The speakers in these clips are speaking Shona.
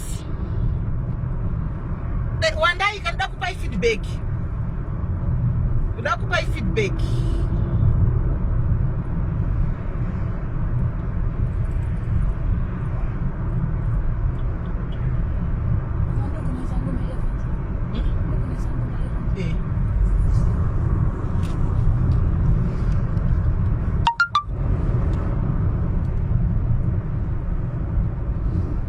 Yes. Be, wandai kanida kupai feedback. Kuda kupai feedback.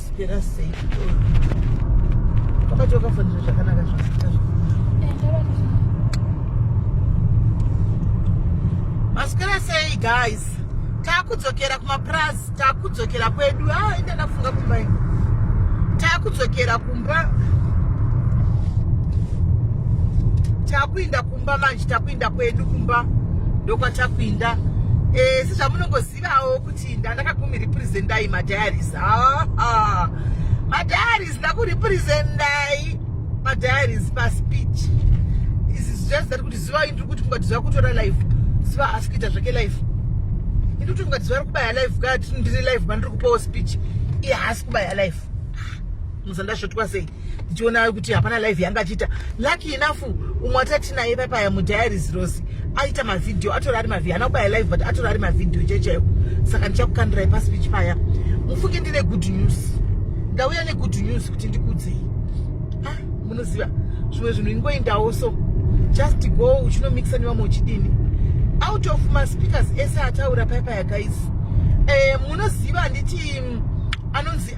Spera sei chikoro. Wakati wakafanira zvakanaka zvakaita Masikira sei guys. Takudzokera kumapurazi, takudzokera kwedu. Ah, enda ndafunga kumba ino. Takudzokera kumba. Takuinda kumba manje, takuinda kwedu kumba. Ndokwatakuinda. Eh, sezvamunongoziva Zivawo kuti ndandakakumirepresendai madiaries ha ha madiaries ndakurepresendai madiaries paspeech izi zvichazi tari kuti ziva indiri kuti funga tiziva kutora life ziva asi kuita zvake life indiri kuti funga tiziva ri kubaya life kaa tiri ndiri life mandiri kupawo speech iye haasi kubaya life muzandasvotwa sei ndichiona kuti hapana live yanga achiita lucky enough umwe atati naye papaya mudiaries rose aita mavhidhiyo atori ari mavhidhiyo ana kubaya live but atori ari mavhidhiyo chai chaiwo saka ndichakukandirai paspeech paya mufunge ndine good news ndauya negood news kuti ndikudzei ah, munoziva zvimwe zvinhu ingoindawo so just go uchinomixa nevamwe uchidini out of maspeakers ese ataura paipa yagaizi eh, munoziva handiti mm, anonzi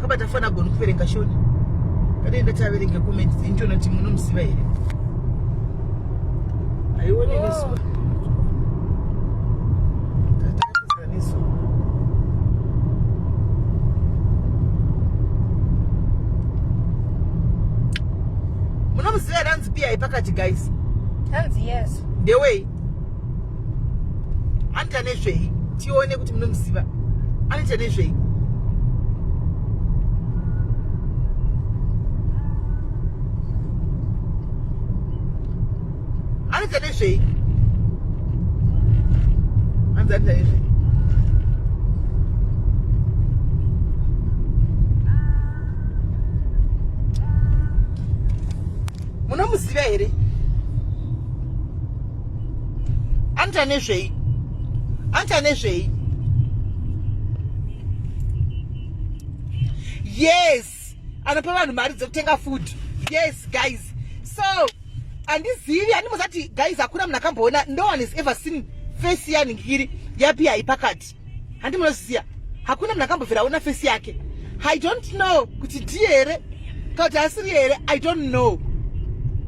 kabata fana agoni kuverenga shoni kadaenda taverenga comment injona ti munomuziva here aione oh. nesu munomuziva ranzi piyai pakati guys hanzi yes ndewei anoita nezvei tione kuti munomuziva anoita nezvei anoita nezvei anzi anoita nezvei munomuziva here anoita nezvei anoita nezvei yes anopa vanhu mari dzekutenga food yes guys so handizivi handimbozati guys hakuna munhu akamboona no one has ever seen face yaningiri yapi yaipakati handi munoziya hakuna munhu akambobvira aona fesi yake i don't know kuti ndiye here kana kuti asiri here i don't know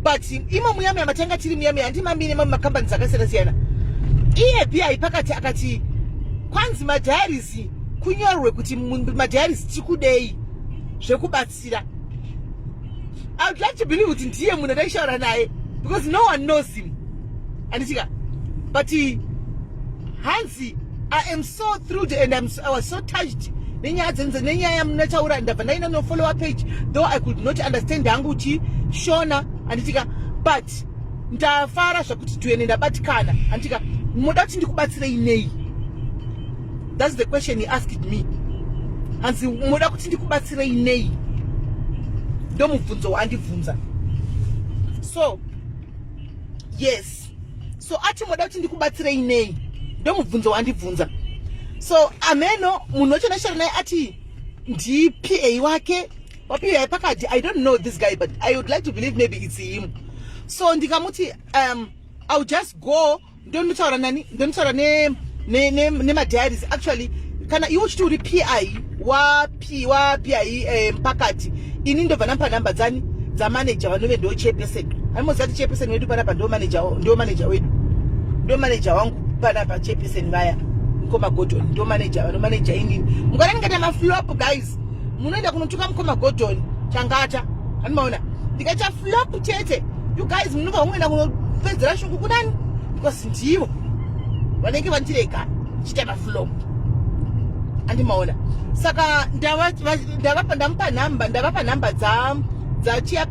but imo muyamiya matanga tiri muyamiya handi mamine mamwe makambani dzakasiyana siyana iye bia ipakati akati kwanzi madiaries kunyorwe kuti madiaries tikudei zvekubatsira ndakazvibatsira i would like to believe kuti ndiye munhu ataishaura naye because no one knows him anditika but hanzi i am so thrilled and I'm so, i was so touched nenyaya dzenze nenyaya yamunataura ndabva ndaina nofollower page though i could not understand hangu kuti shona anditika but ndafara zvakuti tuene ndabatikana anditika moda kuti ndikubatsirei nei That's the question he asked me. Hanzi moda kuti ndikubatsirei nei? Ndomubvunzo waandibvunza. So yes. So ati moda kuti ndikubatsirei nei? Ndomubvunzo waandibvunza. So ameno munhu wachonashara naye ati ndiPA wake wapiwa pakati I don't know this guy but I would like to believe maybe it's him. So ndikamuti um I'll just go ndonutaura nani ndonutaura nemadiaries ne, ne, ne actually kana iwe uchiti uri pi wapi wapi ai eh, pakati ini ndobva ndampa nhamba dzani dzamanager vanove ndo chairperson aimoziva ti chairperson wedu panapa ndo manager ndo manager wedu ndo manager wangu panapa chairperson vaya mukoma godon ndo manager vano manager inini mukada ndikaita maflop guys munoenda kunotuka mukoma godon changata anomaona ndikaita flop chete You guys munobva muenda kunopedzera shungu kunani because ndivo vanenge vandirega chita maflow andimaona saka ndavapa ndamupa nhamba ndavapa nhamba dza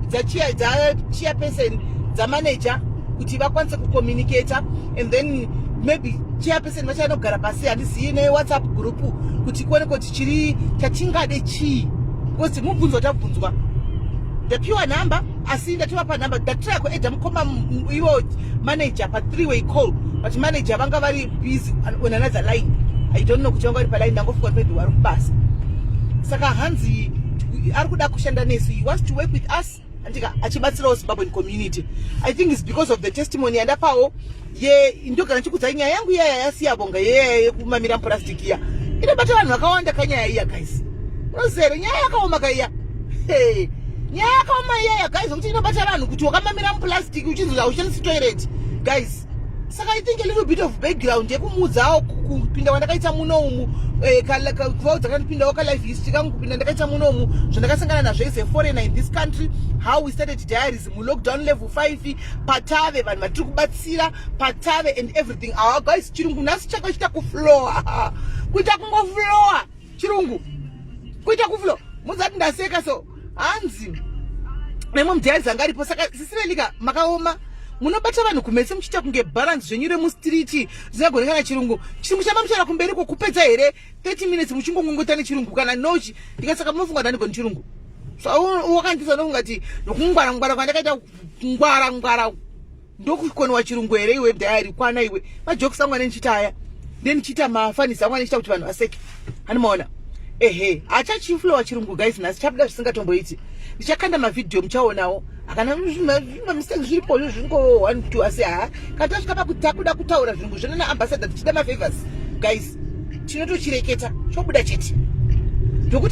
dzachairperson dzamanager kuti vakwanise kucommunicator and then maybe chairperson vachanogara pasi handizivi newhatsapp group kuti kuone kuti chiri chatingade chii because mubvunzo tabvunzwa ndapiwa nhamba asi ndatovapa number ndatry yako eda mukoma ivo manager pa three way call but manager vanga vari busy on another line i don't know kuti vanga vari paline ndangofunga maybe vari kubasa saka hanzi ari kuda kushanda nesu he wants to work with us andika achibatsirawo zimbabwean community i think is because of the testimony yandapawo ye ndogara ndichikudza nyaya yangu iyaya yasiyabonga yeyaya yekumamira mupurastic iya inobata vanhu vakawanda kanyaya iya guys unozere nyaya yakaoma kaiya hey. nyaya yakaoma iyaya guys nokuti inobata vanhu kuti wakamamira mupurastic uchinzi hauchandisi toilet guys saka i think a little bit of background yekumuudzawo kupinda kwandakaita muno umu eh, kuvaudza kana ndipindawo kalife history kangu kupinda ndakaita muno umu zvandakasangana nazvo as a foreigner in this country how we started diaries mulockdown level 5 patave vanhu vatiri kubatsira patave and everything awa guys chirungu nhasi chaka chita kuflowa kuita kungoflowa chirungu kuita kuflowa muzati ndaseka so hanzi nemwe mudyaridzi anga aripo saka sisivelika makaoma munobata vanhu kumese muchiita kunge balance zvenyu remustriti zvisagone kana chirungu chirungu chamba muchara kumberi ko kupedza here 30 minutes muchingongongota nechirungu kana nochi ndikasaka munofunga kuti andigoni chirungu so wakandisa nofunga ti nokungwara ngwara kwandakaita ngwara ngwara ndokukoniwa chirungu here iwe diary kwana iwe majokes angu ane ndichita aya then ndichiita mafanisi angu andichita kuti vanhu vaseke hanimaona ehe achachiflowa chirungu guys nhasi chabuda zvisingatomboiti ndichakanda mavhidhiyo muchaonawo akana mistake zviripo zvo zvingo one two asi haa kana tasvika pakuti takuda kutaura zvirungu zvino naambassador tichida mafavors guys tinotochireketa chobuda chete ndokuti